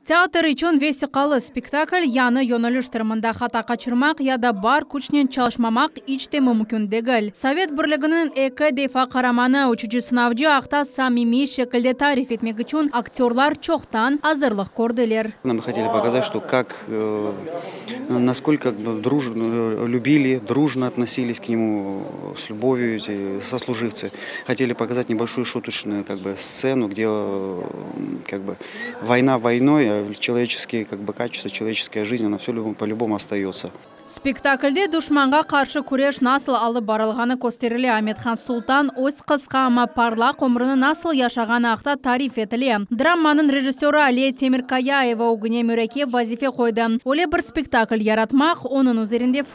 Teatr içün vesiqalı spektakl yañı yöneliş tırımında hata qaçırmaq ya da bar küçnen çalışmamaq iç te mümkün degil. Sovet Birliginiñ eki defa Qaramanı uçucı sınavcı aqta samimiy şekilde tarif etmek içün aktyorlar çoqtan azırlıq kördiler. Nam hoteli pokazat, şto kak, naskolko lübili, drujno otnosilis k nemu, s lübovyu eti soslujivtsi. Hoteli pokazat nebolşoyu şutocnıyu kak bi stsenı, kde kak bi voyna voynoy, a çeloveçeskiye kak bi kaçesto, çeloveçeskiya jiznâ ona vse po lübom ostaötsa. Spektaklde duşmanğa qarşı küreş nasıl alıp barılğanı kösterile, Amethan Sultan öz qısqa, amma parlaq ömrüni nasıl yaşağanı aqta tarif etile. Drammanıñ rejissöri Aliye Temirkayaeva ögüne mürekkep vazife qoydı, öyle bir spektakl yaratmaq, onıñ üzerinde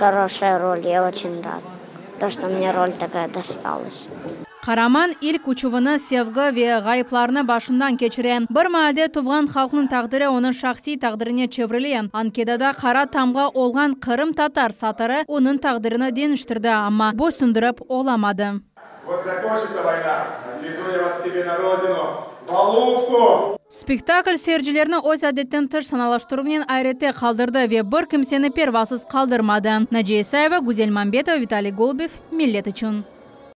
Horoşaya rol, ya oçün rad, to, şto mne rol takaya dostalış. Qaraman ilk uçuvını sevgi ve ğayıplarnı başından keçire. Bir maalde tuvğan halqnıñ taqdiri onıñ şahsiy taqdirine çevrile. Ankedada qara tamğa olğan Qırım tatar satırı onıñ taqdirini deñiştirdi, amma, boysundirip olamadı. Spektakl seyircilerni öz adetten tış sanalaştıruvnen ayrete qaldırdı ve bir kimseni pervasız qaldırmadı, Naciye İsayeva, Güzel Mambetova, Vitaliy Golubev, Millet içün.